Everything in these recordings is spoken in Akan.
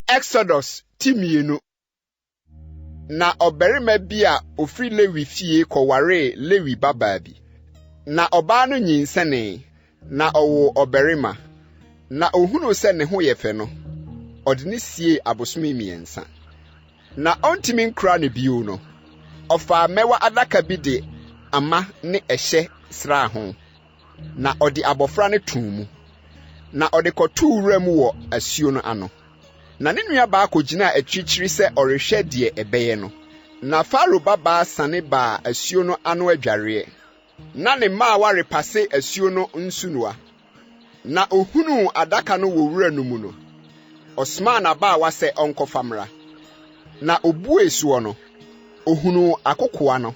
Exodus ti mmienu. Na ɔbarima bi a ofiri Lewi fie kɔwaree Lewi babaa bi. Na ɔbaa no nyinsɛnee, na ɔwoo ɔbarima. Na ohunuu sɛ ne ho yɛ fɛ no, ɔde no siee abosome mmiɛnsa. Na ɔntumi nkura no bio no, ɔfaa mmɛwa adaka bi de ama ne ɛhyɛ sraa ho. na ɔde abɔfra no too mu, na ɔde kɔtoo wuram wɔ asuo no ano. Na ne nuabaa kɔgyinaa akyirikyiri sɛ ɔrehwɛ deɛ ɛbɛyɛ no. Na Farao babaa sane baa asuo no ano adwareɛ, na ne mmaawa repase asuo no nsunoa. Na ɔhunuu adaka no wɔ wura no mu no, ɔsomaa n'abaawa sɛ ɔnkɔfa mmra. Na ɔbuee soɔ no, ɔhunuu akokoa no.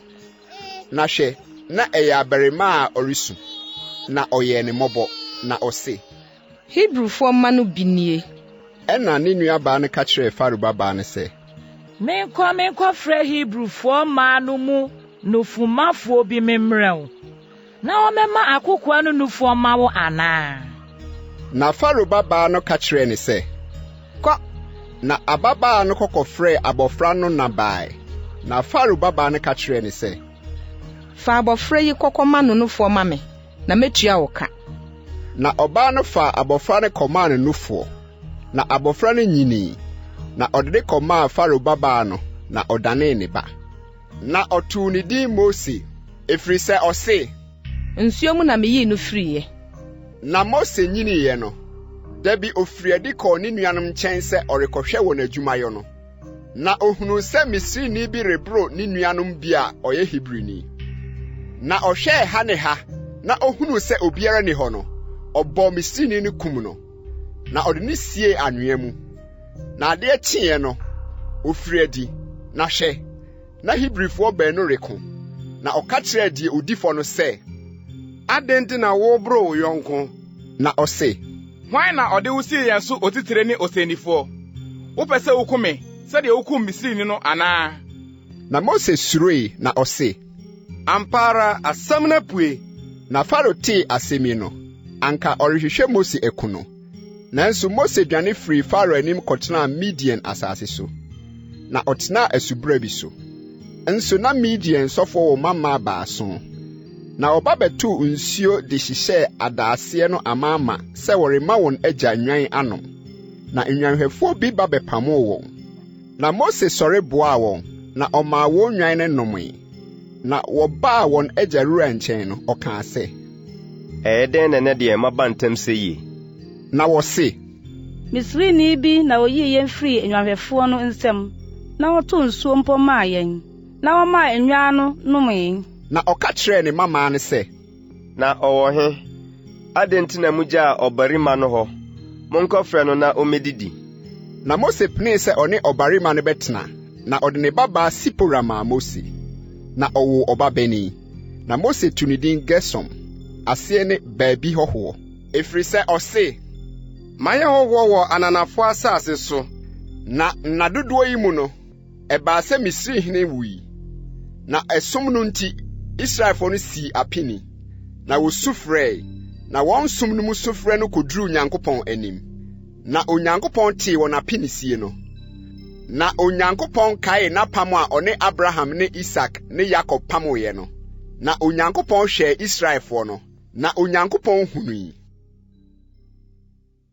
Na hwɛ, na ɛyɛ abarimaa a ɔresu, na ɔyɛɛ no mmɔbɔ, na ɔse. Hebrifoɔ mma no bi nie. Ɛnna ne nuabaa no ka kyerɛɛ Farao babaa no sɛ. Menkɔ menkɔfrɛ Hebrifoɔ mmaa no mu nofomafoɔ bi memmrɛ wo. Na wɔbɛma akokoaa no nufoɔ ama wo anaa? Na Farao babaa no ka kyerɛɛ no sɛ, Kɔ! Na ababaa no kɔkɔfrɛɛ abɔfra no na baeɛ. Na Farao babaa no ka kyerɛɛ no sɛ. Fa abɔfra yi kɔkɔma no nufoɔ ma me, na mɛtua wo ka. Na ɔbaa no faa abɔfra no kɔmaa no nufoɔ, na abɔfra no nyinii, na ɔde no kɔmaa Farao babaa no, na ɔdanee ne ba. Na ɔtoo ne din Mose, ɛfiri sɛ ɔse. Nsuo mu na meyii no firiiɛ. Na Mose nyiniiɛ no, da bi ɔfirii adi kɔɔ ne nuanom nkyɛn sɛ ɔrekɔhwɛ wɔn adwumayɔ no. Na ɔhunuu sɛ Misrini bi reboro ne nuanom bi a ɔyɛ Hebrini. Na ɔhwɛɛ ha ne ha na ɔhunuu sɛ obiara nni hɔ no, ɔbɔɔ Misrini no kum no. na ɔde no siee anwea mu. Na adeɛ kyeeɛ no, ɔfirii adi, na hwɛ! na Hebrifoɔ baanu reko. Na ɔka kyerɛɛ deɛ ɔdi fɔ no sɛ, Adɛn nti na woreboro wo yɔnko? Na ɔse, Hwan na ɔde wo sii yɛn so otitire ne ɔsɛnnifoɔ? Wopɛ sɛ woku me sɛdeɛ wokum Misrini no anaa? Na Mose suroe na ɔse, Ampa ara asɛm no apue! Na Farao tee asɛm yi no, anka ɔrehwehwɛ Mose aku no. Nanso Mose dwane firii Farao anim kɔtenaa Midian asase so, na ɔtenaa asubura bi so. Nso na Midian sɔfoɔ wɔ mma mmaa baason. Na wɔba bɛtoo nsuo de hyehyɛɛ adaaseɛ no amaama sɛ wɔrema wɔn agya nnwan anom. Na nnwanhwɛfoɔ bi ba bɛpamoo wɔn. Na Mose sɔre boaa wɔn, na ɔmaa wɔn nnwan no nomee. Na wɔbaa wɔn agya Reuel nkyɛn no, ɔkaa sɛ. Ɛyɛ dɛn na ɛnnɛ deɛ moaba ntɛm sɛɛ yi? Na wɔse. Misrini bi na oyii yɛn firii nnwanhwɛfoɔ no nsam, na ɔtoo nsuo mpo maa yɛn, na ɔmaa nnwan no nomee. Na ɔka kyerɛɛ ne mmammaa no sɛ. Na ɔwɔ he? Adɛn nti na mugyaa ɔbarima no hɔ? Monkɔfrɛ no na ommedidi. Na Mose penee sɛ ɔne ɔbarima no bɛtena, na ɔde ne babaa Sipora maa Mose, na ɔwoo ɔbabanin. Na Mose too ne din Gersom, aseɛ ne Baabi Hɔhoɔ. Ɛfiri sɛ ɔse, Mayɛ hɔhoɔ wɔ ananafoɔ asase so. Na nna dodoɔ yi mu no. Ɛbaa sɛ Misri hene wui, na ɛsom no nti, Israelfoɔ no sii apini, na wɔsu frɛe, na wɔn som no mu sufrɛ no kɔduruu Nyankopɔn anim. Na Onyankopɔn tee wɔn apinisie no. Na Onyankopɔn kaee n'apam a ɔne Abraham ne Isak ne Yakob pamoeɛ no. Na Onyankopɔn hwɛɛ Israelfoɔ no, na Onyankopɔn hunui.